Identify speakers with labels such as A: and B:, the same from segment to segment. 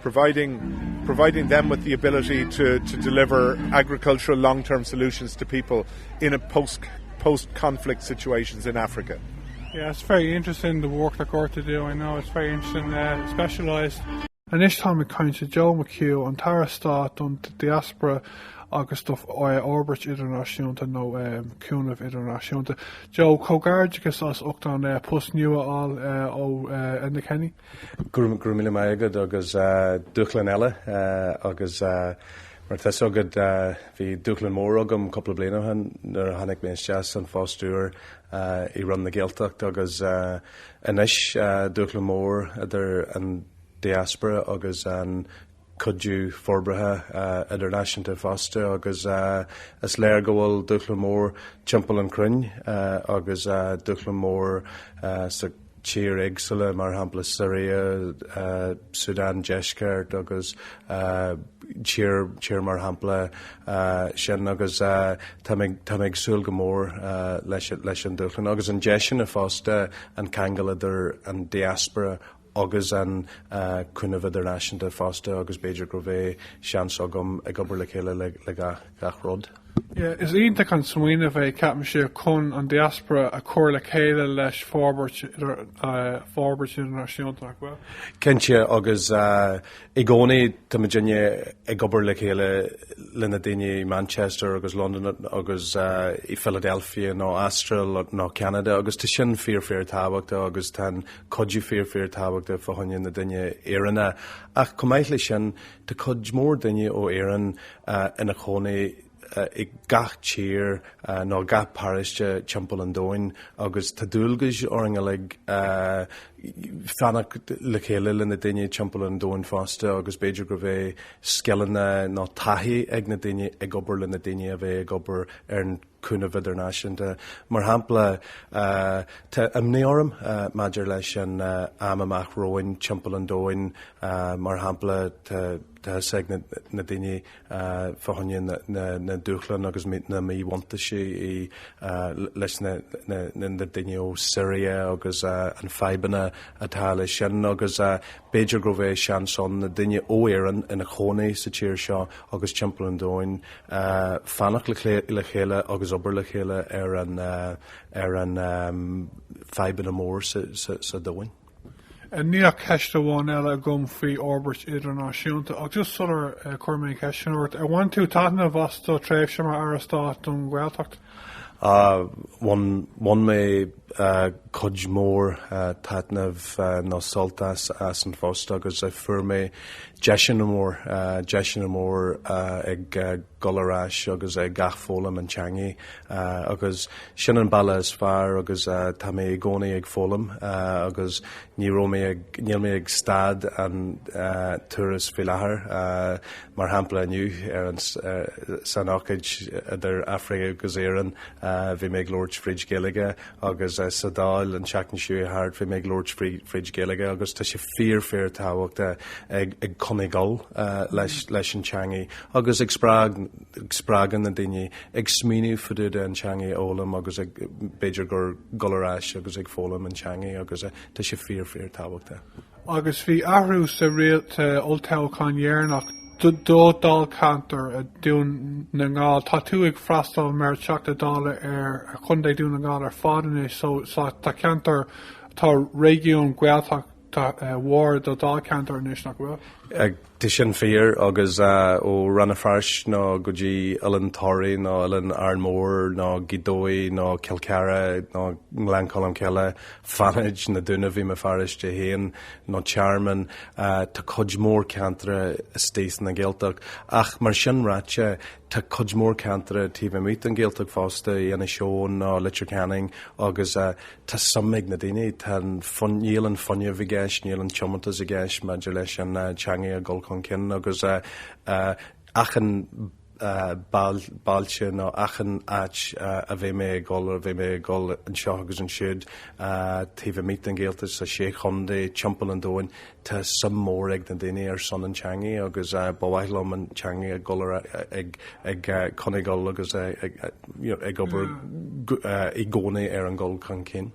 A: providing providing them with the ability to to deliver agricultural long-term solutions to people in a post post conflict situations in Africa. Yeah, it's very
B: interesting the work that Gorta do, I know it's very interesting, uh, specialised. Anois táim ag caint le Joe McHugh, an tAire Stáit don Diaspora agus do Fhorbairt Idirnáisiúnta nó Cúnamh Idirnáisiúnta. Joe, comhghairdeachas as ucht an post nua a fháil ó Enda Kenny. Go raibh
C: míle maith agat agus dúshlán eile agus mar tá a fhios agat bhí dúshlán mór agam cúpla bliain ó shin nuair a tháinig mé isteach san phost úr i Roinn na Gaeltacht agus anois dúshlán mór idir an diaspora agus an cuidiú forbartha idirnáisiúnta fosta agus is léir go bhfuil dúshlán mór timpeall an chruinne agus dúshlán mór sa tír éagsúla, mar shampla Siria, Súdán Deisceart agus tír tír mar shampla sin agus táim ag súil go mór leis an dúshlán agus an deis sin fosta an ceangal idir an diaspora agus an cúnamh idirnáisiúnta fosta agus b'fhéidir go bheidh seans agam ag obair le chéile le gach rud. Is iontach
B: an smaoineamh é, ceapaimse, chun an diaspóra a chur le chéile leis forbairt idirnáisiúnta, nach bhfuil? Cinnte,
C: agus i gcónaí tá muidinne ag obair le chéile le na daoine i Manchester agus Londain agus i Philadelphia nó Astráil nó Ceanada agus tá sin fíor fíor tábhachtach agus tá an cuidiú fíor fíor tábhachtach fá choinne na daoine Éireannach ach chomh maith le sin tá cuid mór daoine ó Éirinn ina chónaí i gach tír nó gach paráiste timpeall an domhain agus tá dualgas orainn uilig fanacht le chéile le na daoine timpeall an domhain fosta agus b'fhéidir go mbeidh scileanna nó taithí ag na daoine ag obair le na daoine a bheith ag obair ar an cúnamh idirnáisiúnta. Mar shampla, tá imní orm maidir leis an am amach romhainn timpeall an domhain, mar shampla, tá a fhios ag na daoine fá choinne na dúshlán agus na míbhuntáistí leis na daoine ó Siria agus an fadhbanna atá leis sin agus b'fhéidir go mbeidh seans ann na daoine ó Éirinn ina chónaí sa tír seo agus timpeall an domhain, fanacht le chéile agus obair le chéile ar an fadhbanna mór sa domhain. Níl
B: ceist amháin eile agam faoi fhorbairt idirnáisiúnta ach just sular chuir mé an ceist sin ort, ar bhain tú taitneamh as do thréimhse mar Aire Stáit don Ghaeltacht?
C: Bhain mé cuid mhór taitnimh nó sult as an phost agus fuair mé deiseanna mór, deiseanna mór ag dul ar ais agus ag athfhoghlaim an teangaidh agus sin an bealach is fearr agus tá mé i gcónaí ag foghlaim agus ní raibh mé ag, níl mé ag stad an turas faoi láthair. mar shampla inniu ar an san ócáid idir Africa agus Éirinn bhí mé ag labhairt fríd Gaeilge agus sa Dáil an tseachtain seo thart bhí mé ag labhairt fríd Gaeilge agus tá sé fíor fíor tábhachtach ag coinnigh ag dul leis an teangaidh agus ag spreagadh na daoine ag smaoineamh fá dtaobh de an teangaidh a fhoghlaim agus ag b'fhéidir ag dul ar ais agus ag foghlaim an teangaidh agus tá sé fíor fíor tábhachtach. agus
B: bhí athrú sa riail sa olltoghchán dheireanach do dháilcheantar Dhún na nGall. Tá tú ag freastal mar Teachta Dála ar Chontae Dhún na nGall ar fad anois so tá ceantar, tá réigiún Gaeltachta mhór do dháilcheantar anois, nach bhfuil? Tá
C: sin fíor, agus ó Rann na Feirste nó go dtí Oileán Thoraí nó Oileán Árainn Mhór nó Gaoth Dobhair nó Cill Charthaigh nó Gleann Cholm Cille, Fánaid, Na Dúnaibh, i mo pharóiste féin, nó Tearmann, tá cuid mhór ceantracha istigh sna Gaeltacht. Ach mar sin ráite, tá cuid mhór ceantracha taobh amuigh den Ghaeltacht fosta, Inis Eoghain nó Leitir Ceanainn, agus Tá suim ag na daoine, tá, níl an fuinneamh i gceist, níl an tiomantas i gceist maidir leis an teangaidh a dhul chun cinn agus achan bailte nó achan áit a bheidh mé ag dhul, a bheidh mé ag dhul anseo agus ansiúd taobh amuigh den Ghaeltacht, sa Sé Chontae, timpeall an domhain, Tá suim mhór ag na daoine ar son an teangaidh agus ba mhaith liom an teangaidh a dhul ar, ag coinnigh ag dul agus ag obair i gcónaí ar an dhul chun cinn.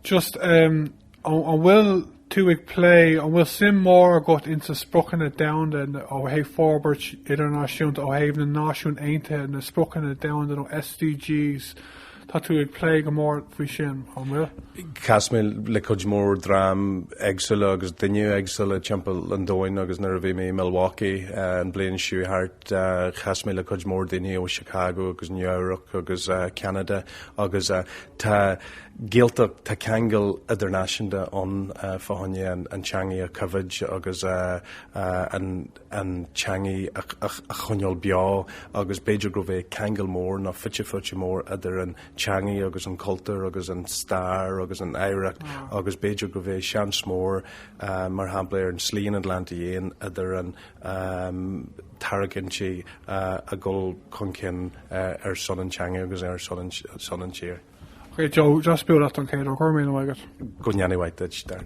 C: Just,
B: an bhfuil tú ag plé, an bhfuil suim mhór agat ins na Spriocanna Domhanda ó thaobh forbairt idirnáisiúnta, ó thaobh na Náisiún Aontaithe, na Spriocanna Domhanda nó SDGs, Tá tú ag plé go mór faoi sin, an bhfuil? Chas
C: mé le cuid mhór dream éagsúla agus duine éagsúla timpeall an domhain agus nuair a bhí mé i Milwaukee an bhliain seo thart chas mé le cuid mhór daoine ó Chicago agus Nua-Eabhrac agus Ceanada agus tá Gaeltacht, tá ceangal idirnáisiúnta ann fá choinne an teangaidh a coimhéad agus an an teangaidh a choinneáil beo agus b'fhéidir gurb é ceangal mór nó fite fuaite mór idir an teangaidh agus an cultúr agus an stair agus an oidhreacht agus b'fhéidir gurb é seans mór mar shampla ar an Slí an Atlantaigh Fhiáin idir an tarraigintí a dhul chun cinn ar son an teangaidh agus ar son an tír.
B: Joe,
C: just
B: build up on Kate or Cormier, I guess. Go
C: ndéana
B: a mhaith duit there.